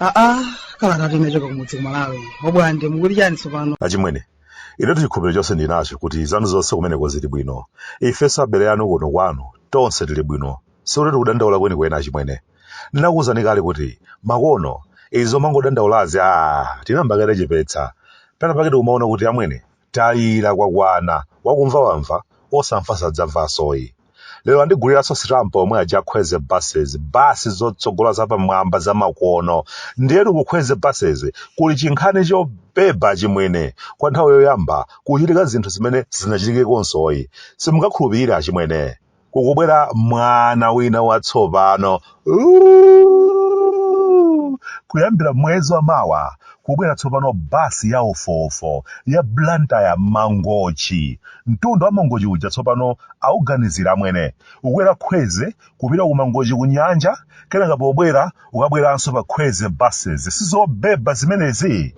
aa kalata yochoka kumudzi kumalawi Bwande mukuti chani tsopano achimwene inetu chikhulupiriro chonse ndinacho kuti zanu zonse kumeneko zili bwino ifenso abale anu kuno kwanu tonse tili bwino sikuti tikudandaula kwenikweni achimwene ndinakuwuzani kale kuti makono zomangodandaulazi a tinayamba kale kuchepetsa pena pake tikumaona kuti amwene tayira kwakwana wakumva wamva osamva sadzamvasoyi lero andiguliranso sitampa omwe aja a Kwezy buses basi zotsogola zapamwamba zamakono ndiyetu ku Kwezy buses kuli chinkhani chobeba achimwene kwa nthawi yoyamba kuchitika zinthu zimene zinachitikekonso ayi simungakhulupirire achimwene kukubwera mwana wina watsopano Uuuu! kuyambira mwezi wa mawa kukubwera tsopano basi ya ofuwofu ya blantyre mangochi mtunda wa mangochi uja tsopano auganizire amwene ukwera Kwezy kupita ku mangochi ku nyanja kenaka pobwera ukabweranso pa Kwezy buses sizobeba zimenezi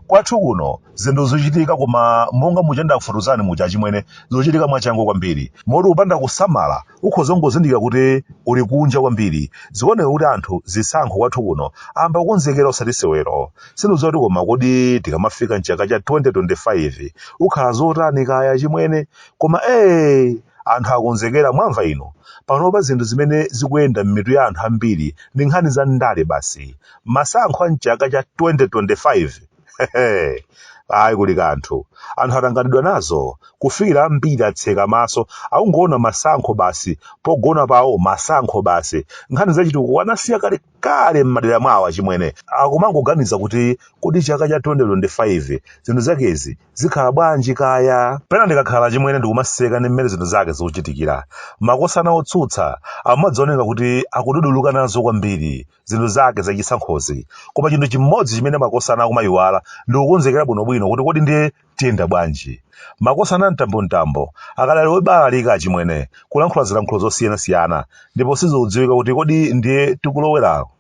kwathu kuno zinthu zikuchitika koma monga muja ndakufotokozerani muja achimwene zikuchitika mwachangu kwambiri moti kupanda kusamala ukhoza kungozindikira kuti uli kunja kwambiri zikuoneka kuti anthu zisankho kwathu kuno ayamba kukonzekera osati sewero sindikudziwa kuti koma kodi tikamafika mchaka cha 2025 kukhala zotani kaya achimwene Koma ee! Anthu akonzekera, mwamva inu? Panopa zinthu zimene zikuyenda m'mitu ya anthu ambiri ndi nkhani za ndale basi. Masankho a m'chaka cha 2025? Hehe! Ayi kuli kanthu. Anthu atanganidwa nazo kufikira ambiri atseka maso akungoona masankho basi, pogona pawo masankho basi. Nkhani za chitukuko anasiya kale. kale m'madera mwawo achimwene akumangoganiza kuti kodi chaka cha 2025 zinthu zakezi zikhala bwanji kaya pena ndikakhala achimwene ndikumaseka ndi mmene zinthu zake zikuchitikira makosana a otsutsa amadziwoneka kuti akududuluka nazo kwambiri zinthu zake zachisankhozi koma chinthu chimodzi chimene makosana akumayiwala ndikukonzekera bwinobwino kuti kodi ndiye tiyenda bwanji? Makosana a Mtambo Mtambo akadali obalalika achimwene kulankhula zilankhulo zosiyanasiyana ndipo sizikudziwika kuti kodi ndiye tikuloweraku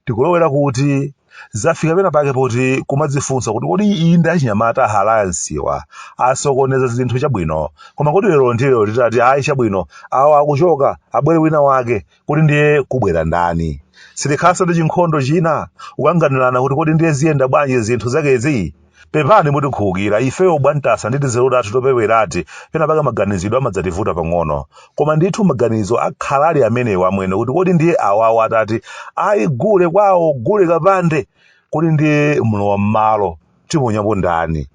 tikulowera kuti zafika pena pake poti kumadzifunsa kuti kodi inde achinyamata a Alayansiwa asokoneza zinthu chabwino koma kodi lero ndi lero titati ayi chabwino awa akuchoka abwere wina wake kuti ndiye kubwera ndani sitikhalanso ndi chinkhondo china kukanganirana kuti kodi ndiye ziyenda bwanji zinthu zakezi pepani mutikhululukira ifeyo bwantasa ndi tizeru tathu topewerati pena paka maganizidwe amadzativuta pang'ono koma ndithu maganizo akhala ali amenewo amwene kuti kodi ndiye awawo atati ayi gule kwawo gule kapande kodi ndiye mlowa m'malo tiponyapo ndani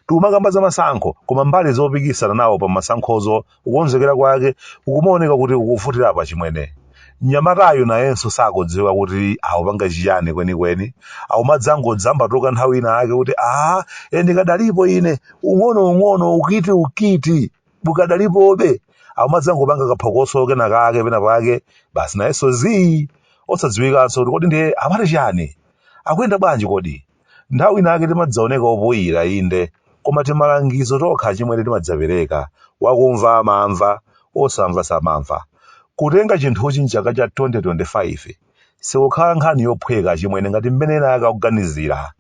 tikumakamba za masankho koma mbali zopikisana nawo pa masankhozo kukonzekera kwake kukumaoneka kuti kukuvutirapo achimwene mnyamatayu nayenso sakudziwa kuti akupanga chiyani kwenikweni akumadzangodzambatuka nthawi ina ake kuti aa e ndikadalipo ine ung'ono ung'ono ukiti ukiti ukadalipobe akumadzangopanga kaphokoso kena kake pena pake basi nayenso zii osadziwikanso kuti kodi ndiye amati chiyani akuyenda bwanji kodi Nthawi inayake timadzaoneka opoyira, inde, koma timalangizo tokha achimwene timadzapereka, wakumva amamva, wosamva samamva. Kutenga chinthuchi m'chaka cha 2025 sikukhala nkhani yophweka achimwene ngati mmene enaake akuganizira.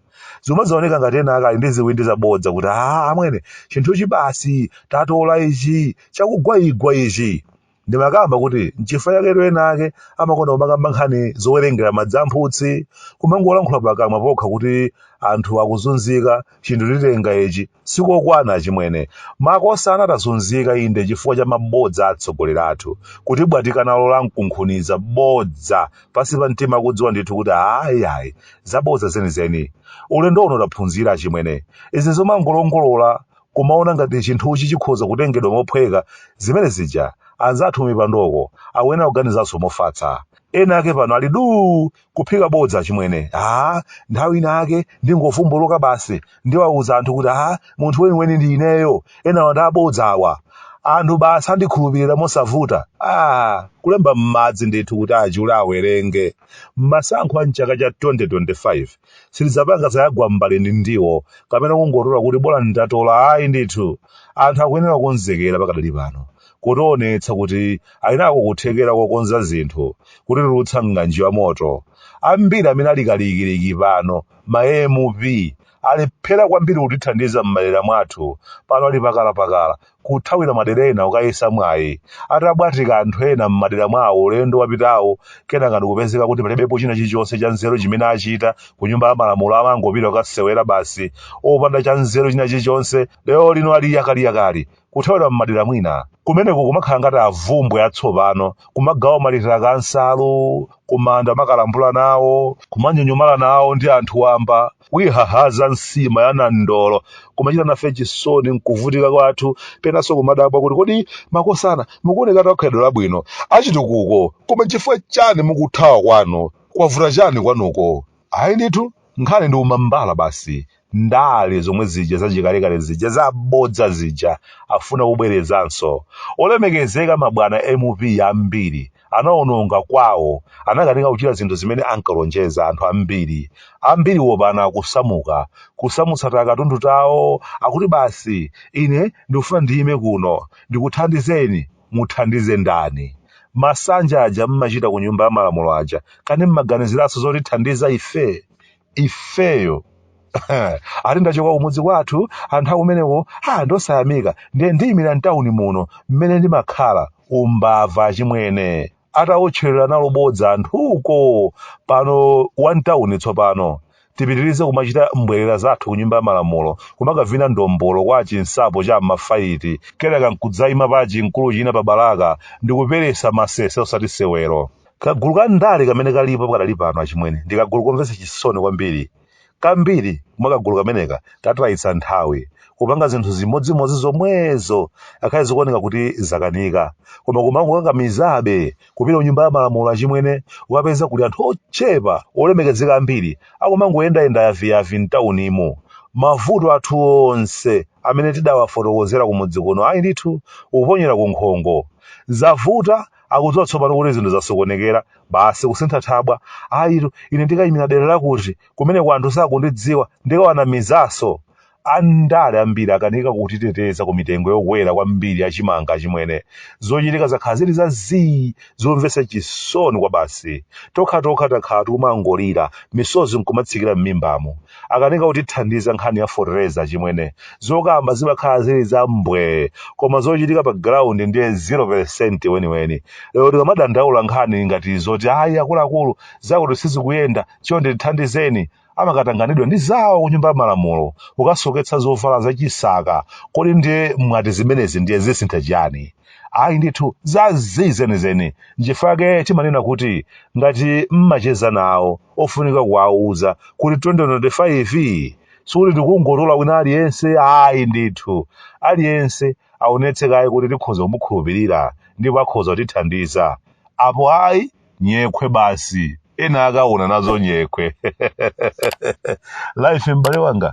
Zimadzaoneka ngati enaake ali ndi ziwindi zabodza kuti, Aaa amwene, chinthuchi basi, tatola ichi, chakugwaigwa ichi. Ndimakamba kuti n'chifukwa chaketu ena ake amakonda kumakamba nkhani zowerengera madzi a mphutsi, kumangolankhula pakamwa pokha kuti anthu akuzunzika, chinthu titenga ichi, sikokwana achimwene. Makosana tazunzika inde chifukwa cha mabodza a atsogoleri athu, kutibwatika nalo lankunkhuniza, bodza, pansi pa mtima akudziwa ndithu kuti ayi ayi, zabodza zenizeni. Ulendo uno taphunzira achimwene. Izi zomangolongolola kumaona ngati chinthuchi chikhoza kutengedwa mophweka, zimene zija anzathu kumipandoko akuyenera kuganizanso mofatsa. Ena ake pano ali duu kuphika bodza achimwene. Haa, nthawi ina yake ndingovumbuluka basi ndiwauza anthu kuti haa, munthu weniweni ndi ineyo, enawa ndi abodza awa. Anthu basi andikhulupirira mosavuta. Aa! Kulemba m'madzi ndithu kuti achule awerenge. Masankho a m'chaka cha 2025 Sitidzapanga zayagwa m'mbale ndi ndiwo kapena kungotola kuti bolani tatola ayi ndithu. Anthu akuyenera kukonzekera pakadali pano, kutionetsa kuti ali nako kuthekera kokonza zinthu, kutitulutsa m'ng'anjo ya moto. Ambiri amene ali kalikiliki pano, ma MP, alephera kwambiri kutithandiza m'madera mwathu, pano ali pakalapakala, kuthawira madera ena kukayesa mwayi. Atabwatika anthu ena m'madera mwawo ulendo wapitawo, kenaka ndikupezeka kuti palibepo china chilichonse chanzeru chimene achita ku Nyumba ya Malamulo, amangopita kukasewera basi, opanda chanzeru china chilichonse. Lero lino ali yakaliyakali kuthawira m'madera mwina. Kumeneko kumakhala ngati avumbwe atsopano, kumagawa matiraka a nsalu, kumanda kumakalambula nawo, kumanyonyomala nawo ndi anthu wamba. kuihahaza nsima ya nandolo kumachita nafe chisoni nkuvutika kwathu penanso kumadabwa kuti kodi makosana mukuoneka akhalidwe labwino achitukuko koma chifukwa chani mukuthawa kwanu kwavuta chani kwanuko ayi ndithu nkhani ndi umambala basi ndale zomwe zija zachikalekale zija zabodza zija afuna kubwerezanso olemekezeka mabwana mp ambiri anawononga kwawo, anakanika kuchita zinthu zimene ankalonjeza anthu ambiri. Ambiriwo pano akusamuka, kusamutsa takatundu tawo, akuti basi, ine ndikufuna ndiyime kuno, ndikuthandizeni. Muthandize ndani? Masanja aja mmachita ku Nyumba ya Malamulo aja, kani mmaganiziranso zotithandiza ife? ifeyo ati ndachoka kumudzi kwathu anthu akumeneko ndi osayamika ndiye ndiyimira mtawuni muno mmene ndimakhala umbava achimwene atawotcherera nalo bodza anthuko pano wa mtawuni tsopano tipitirize kumachita mbwerera zathu ku nyumba ya malamulo kumakavina ndombolo kwa chinsapo cha m'mafayiti kenaka nkudzayima pa chinkulu china pa balaka ndikuperesa masese osati sewero Kagulu ka ndale kamene kalipo pakadali pano achimwene ndi kagulu komvetsa chisoni kwambiri. Kambiri mwa kagulu kameneka katayitsa nthawi kupanga zinthu zimodzimodzi zomwezo akhale zikuoneka kuti zakanika koma kumangokakamizabe kupita ku nyumba ya malamulo achimwene ukapeza kuli anthu ochepa olemekezeka ambiri akumangoyendayenda yaviyavi mtaunimu. Mavuto athu onse amene tidawafotokozera kumudzi kuno ayi ndithu kuponyera ku nkhongo. Zavuta akudziwa tsopano kuti zinthu zasokonekera basi kusintha thabwa ayitu ine ndikayimira dera lakuti kumeneko anthu sakundidziwa ndikawanamizanso andale ambiri akanika kutiteteza ku mitengo yokwera kwambiri ya chimanga achimwene zochitika zakhala zili za zii zomvetsa chisoni kwa basi tokhatokha takhala tikumangolira misozi nkumatsikira m'mimbamo akanika kutithandiza nkhani ya fertilizer achimwene zokamba zimakhala zili za mbwee koma zochitika pa ground ndiye 0% weniweni lero tikamadandaula nkhani ngati zoti ayi akuluakulu zakuti sizikuyenda chonde tithandizeni amakatanganidwa ndi zawo kunyumba ya malamulo kukasoketsa zovala zachisaka kodi ndiye mwati zimenezi ndiye zisintha chiyani ayi ndithu za zii zenizeni nchifukwa chake timanena kuti ngati mmacheza nawo ofunika kuwauza kuti 2025 sikuti tikungotola wina aliyense ayi ndithu aliyense aonetse kaye kuti tikhoza kumukhulupirira ndipo akhoza kutithandiza apo ayi nyekhwe basi ena akaona nazo nyekhwe life m'bale wanga